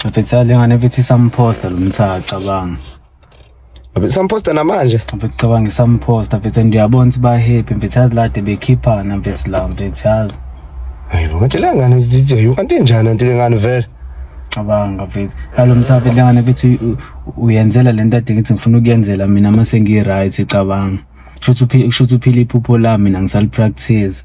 Mfethu le ngane mfethu isamposta lo mthatha cabanga. Samposta namanje. Mfethu cabanga isamposta mfethu ndiyabona ukuthi ba happy mfethu yazi lade bekhiphana mfethu la mfethu yazi. Hayi bo kanti le ngane DJ kanti injani kanti le ngane vele. Cabanga mfethu. Yalo mthatha le ngane mfethu uyenzela lento ade ngithi ngifuna ukuyenzela mina mase ngi right cabanga. Kusho ukuthi uphila iphupho lami mina ngisali practice.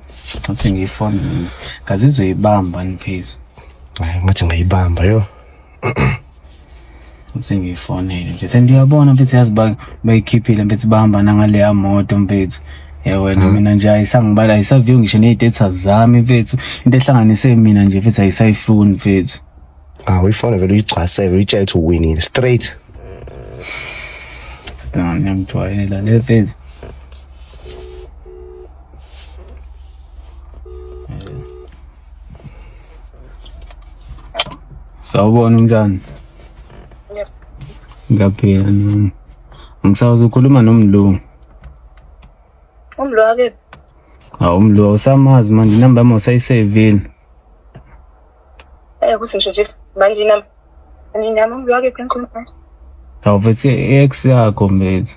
ngathi ngiyifona mina ngazizwe ibamba ngiphezulu hayi ngathi ngayibamba yo ngathi ngiyifonele nje sendiyabona mfethu yazi ba- bayikhiphile mfethu bahamba nangaleya moto mfethu ya wena mina nje ayisangibala ayisaviyo ngisho ney'tetha zami mfethu into ehlanganise mina nje mfethu ayisayifuni mfethu Ah, uyifone vele uyigcwaseke uyitshela ukuthi uwinile straight. Sina ngiyamjwayela le phase. Sawubona umntana. Ngiyaphila nami. Ngisawazi ukhuluma nomlungu. Umlungu akephi? Hawu umlungu usamazi manje inamba yami usayisevile. Eh ukuthi ngisho nje manje nami nami ngiyake phenkulu manje. Awuvethi ex yakho mfethu.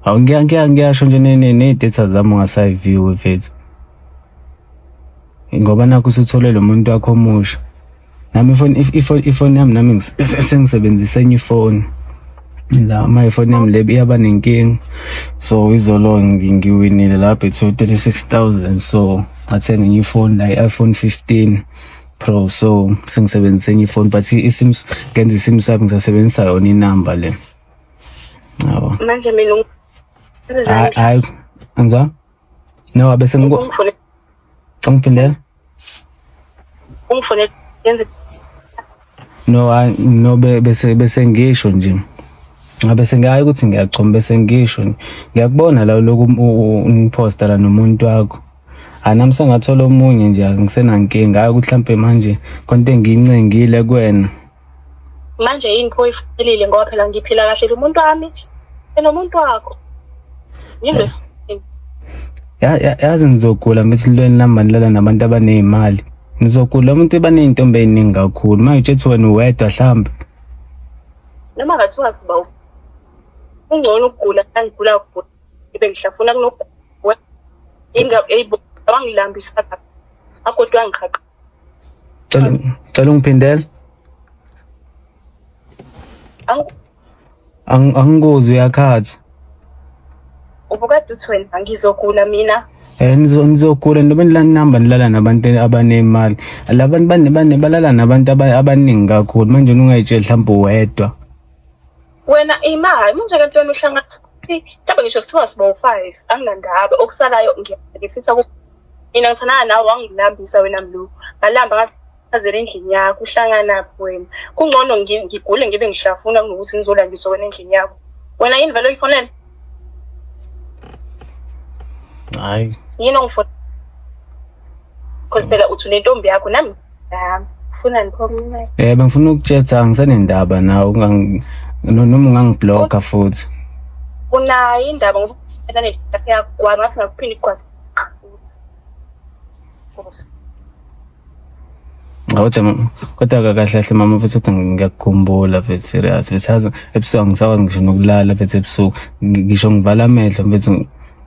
Awu ngiya ngiya ngiyasho nje ne-data zami ungasayiviwe mfethu. Ngoba nakho usuthole lo muntu wakho omusha. Nami ifoni ifoni yami nami sengisebenzisa enye ifoni. la my phone yami le iyaba nenkinga so izolo ngiwinile la bethu 36000 so ngathenga enye ifoni la i-iphone 15 pro so sengisebenzisa enye ifoni but isimu ngenza isimu sakho ngisasebenzisa yona inamba le yabo manje mina hayi angizwa No, bese ngiku Ungifune ngiphindela. ungifune yenze No, hayi, no be- bese bese ngisho nje. Ngabe sengayi ukuthi ngiyachoma bese ngisho. nje. Ngiyakubona la lokhu um- u- u- ungiposta la nomuntu wakho. Anami sengathola omunye nje angisenankinga hayi ukuthi mhlambe manje konke engiyincengile kuwena. manje yini pho ifanelile ngoba phela ngiphila kahle lomuntu wami enomuntu wakho yini yazi ngizogula ngithi lweni lamba nilala nabantu abaneyimali ngizogula umuntu ebaneyintombi eyiningi kakhulu manje utshethi wena uwedwa hlambe noma ngathiwa siba ungcono ukugula angigula ukugula ibe ngihlafuna kunokugula ingabangilambisa akodwa ngiqhaqa Cela cela ungiphindele. Angi- Ang- Angikuzwa uyakhathi. Ubukade uthi wena ngizogula mina. Eh nizo- nizogula noma nilala nihamba nilala nabantu abanemali. Labantu bane bane balala nabantu aba- abaningi kakhulu manje ungayitsheli mhlawumbe uwedwa. wena ima hayi manje kanti wena uhlanga mhlawumbe ngisho sithiwa siba u-five anginandaba okusalayo ngifitha ku mina ngithandana nawe wangilambisa wena mlu ngalamba ngazela endlini yakho uhlanganaphi wena kungcono ngigule ngibe ngihlafuna kunokuthi ngizolandiswa wena endlini yakho wena yini vele oyifonele hayi yini ongifonele because phela uthi unentombi yakho nami Yami. Ufuna niphome inceke. Eh bengifuna ukutshela ngisenendaba nawe ungangi no- noma ungangibloka futhi. Unayo indaba ngoba uphela nedatha yakho gwaza ngathi ngakuphinde igwaza futhi. Nkosi. Kodwa ma- kodwa ka- kahle kahle mama futhi kodwa ngiyakukhumbula mfethu serious mfethu yazi ebusuku angisakwazi ngisho nokulala mfethu ebusuku Ngi- ngisho ngivala amehlo mfethu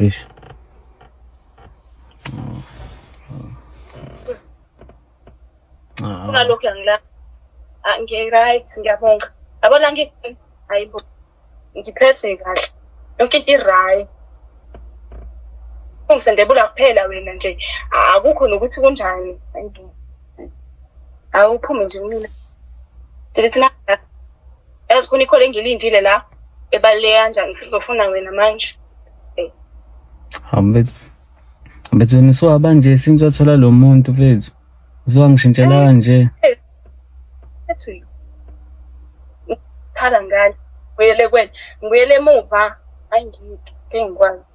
Eish. Ah. Kunalokho yangila. Ah, ngi right ngiyabonga. Yabona ngi ayibo. Ngiphethe kahle. Yonke into i-right. Ungisendebula kuphela wena nje. Akukho nokuthi kunjani. Ayibo. Awuphume nje kumina. Ndithi na yazi khona ikhole engilindile la ebaluleke kanjani sizofuna wena manje Hambethu. Hambethu nisuka banje since wathola lo muntu mfethu. Usuka ngishintshela kanje. ethi khala ngani ngibuyele kwena ngibuyele emuva hayi ngike ngikwazi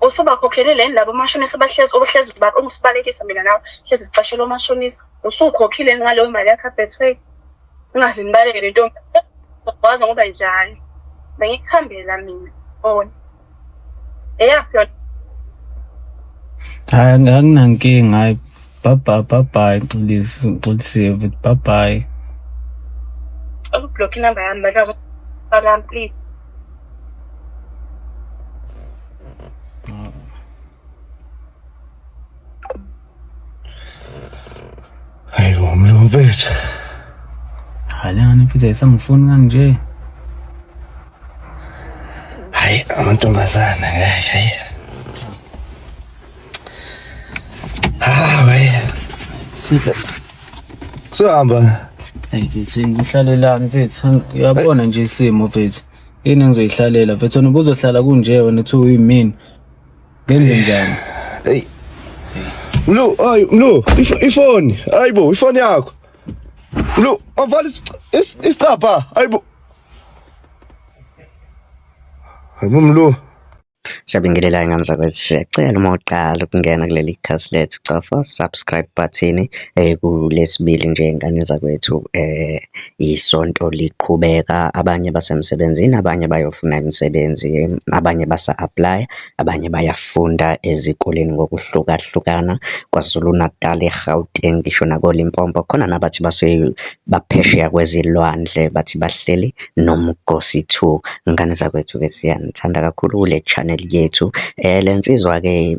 usubakhokhele leni labo omashonisa bahlezi obuhlezi ungisibalekisa mina nawe hlezi sicashela omashonisa usukhokhile ngaleyo mali yakho abethway ungaze nibaleke le ntombi waza ngoba njani bengikuthambela mina bona eyaphi yona hayi anginankinga hayi baba baba xolisi xolisiwe bye bye ukublock inamba yami balami please Hayi bo mlungu mfethu. Halani mfethu ayisangifuni kanje. Hayi amantombazana hayi hayi. Sihamba. Hey mfethu ngihlalelani mfethu uyabona nje isimo mfethu. Yini engizoyihlalela mfethu wena ubuzohlala kunje wena uthi uyimini. Ngenze njani? Hey. Mlu, ay Mlu, ifoni. Hayibo, ifoni yakho. Mlu, avala isicapha. Hayibo. Hayibo Mlu. Siyabingelela ingane zakwethu, siyacela uma uqala ukungena kuleli khasi lethu cofa subscribe button eh kulesibili nje ingane zakwethu eh isonto liqhubeka abanye basemsebenzini abanye bayofuna imisebenzi abanye basa apply abanye bayafunda ezikoleni ngokuhlukahlukana KwaZulu Natal eGauteng ngisho nakoLimpopo khona nabathi base baphesheya kwezilwandle bathi bahleli Nomgosi two. Ngane zakwethu-ke siyanithanda kakhulu kule channel yethu. Le nsizwa-ke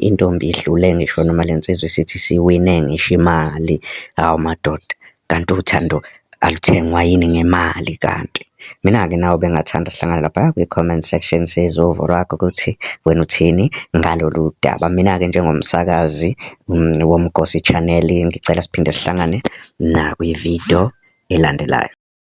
intombi idlule ngisho noma le nsizwa isithi isiwine ngisho imali. Hawu madoda, kanti uthando aluthengwa yini ngemali kanti? Mina-ke nawe bengingathanda sihlangane laphaya kwi-comment section sizwe uvo lwakho ukuthi wena uthini ngalolu daba. Mina-ke njengomsakazi woMgosi Channel ngicela siphinde sihlangane nakwi-video elandelayo.